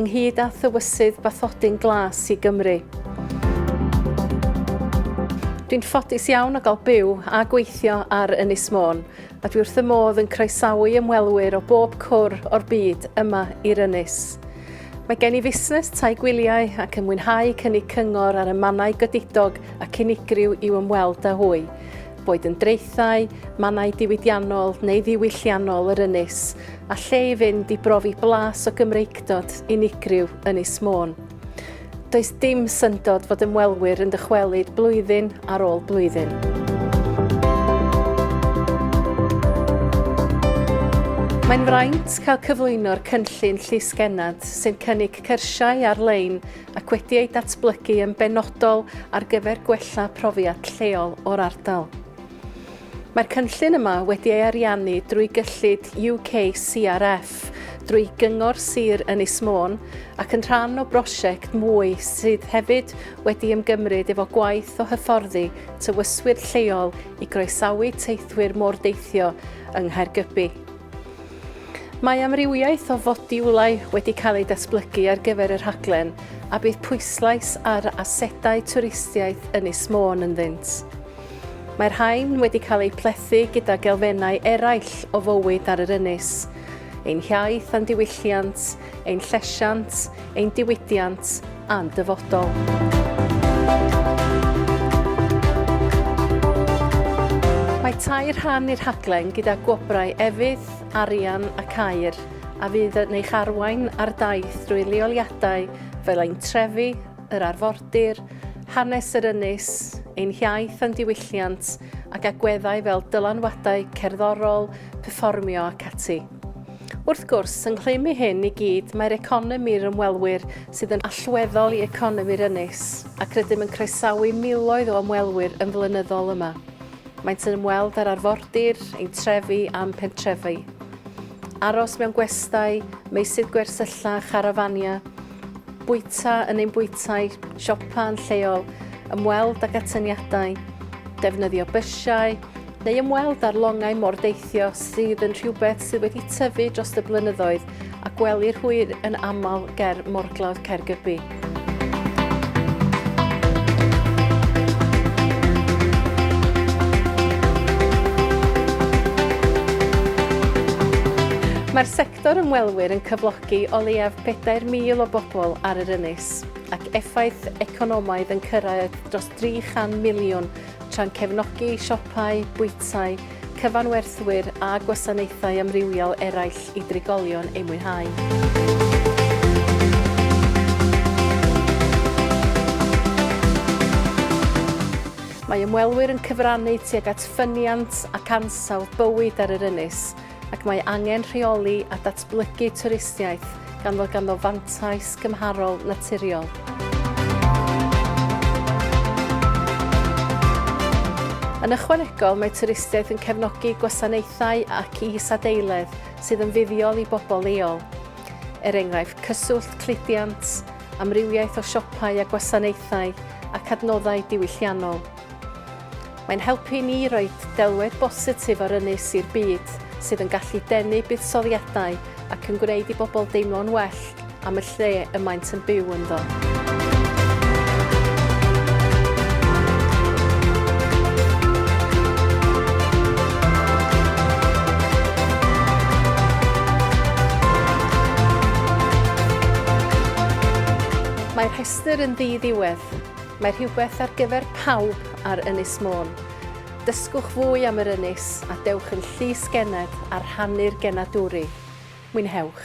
ynghyd â thywysydd bathodyn glas i Gymru. Dwi'n ffodus iawn o gael byw a gweithio ar Ynys Môn, a dwi wrth y modd yn croesawu ymwelwyr o bob cwr o'r byd yma i'r Ynys. Mae gen i fusnes tai gwyliau ac yn mwynhau cynnig cyngor ar y mannau godidog ac unigryw i'w ymweld â hwy. boed yn draethau, mannau diwydiannol neu ddiwylliannol yr ynys, a lle i fynd i brofi blas o Gymreictod unigryw Ynys Môn. Does dim syndod fod ymwelwyr yn dychwelyd blwyddyn ar ôl blwyddyn. Mae'n fraint cael cyflwyno'r cynllun Llys Gennad sy'n cynnig cyrsiau ar-lein ac wedi ei datblygu yn benodol ar gyfer gwella profiad lleol o'r ardal. Mae'r cynllun yma wedi ei ariannu drwy gyllid UK CRF, drwy Gyngor Sir Ynys Môn ac yn rhan o brosiect mwy sydd hefyd wedi ymgymryd efo gwaith o hyfforddi tywyswyr lleol i groesawu teithwyr mordeithio yng Nghaergybi. Mae amrywiaeth o fodiwlau wedi cael eu datblygu ar gyfer y rhaglen a bydd pwyslais ar asedau twristiaeth Ynys Môn ynddynt. Mae rhain wedi cael eu plethu gyda gelfennau eraill o fywyd ar yr ynys, ein hiaith a'n diwylliant, ein llesiant, ein diwydiant a'n dyfodol. Mae tair rhan i'r rhaglen gyda gwobrau efydd, arian ac air a fydd yn eich arwain ar daith drwy leoliadau fel ein trefi, yr arfordir, hanes yr ynys, ein hiaith a'n diwylliant ac agweddau fel dylanwadau cerddorol, perfformio ac ati. Wrth gwrs, yng nghlym i hyn i gyd, mae'r economi'r ymwelwyr sydd yn allweddol i economi'r ynys, ac rydym yn croesawu miloedd o ymwelwyr yn flynyddol yma. Maent yn ymweld â'r arfordir, ein trefi a'n pentrefi. Aros mewn gwestai, meysydd gwersylla, charafania, bwyta yn ein bwytai, siopa yn lleol, ymweld ag atyniadau, defnyddio bysiau, neu ymweld â'r longau mordeithio sydd yn rhywbeth sydd wedi tyfu dros y blynyddoedd a gwelir hwy yn aml ger morglawdd Caergybi. Mae'r sector ymwelwyr yn cyflogi o leiaf 4,000 o bobl ar yr ynys ac effaith economaidd yn cyrraedd dros 300 miliwn tra'n cefnogi siopau, bwytai, cyfanwerthwyr a gwasanaethau amrywiol eraill i drigolion eu mwynhau. Mae ymwelwyr yn cyfrannu tuag at ffyniant ac ansawdd bywyd ar yr ynys, ac mae angen rheoli a datblygu twristiaeth gan fod ganddo fantais gymharol naturiol. Yn ychwanegol, mae twristiaeth yn cefnogi gwasanaethau ac is-adeiledd sydd yn fuddiol i bobl leol, er enghraifft cyswllt cludiant, amrywiaeth o siopau a gwasanaethau, ac adnoddau diwylliannol. Mae'n helpu i ni roi delwedd bositif o'r ynys i'r byd, sydd yn gallu denu buddsoddiadau ac yn gwneud i bobl deimlo'n well am y lle y maent yn byw ynddo. Mae'r rhestr yn ddi-ddiwedd. Mae rhywbeth ar gyfer pawb ar Ynys Môn. Dysgwch fwy am yr ynys a dewch yn llys gened a rhannu'r genadwri. Mwynhewch!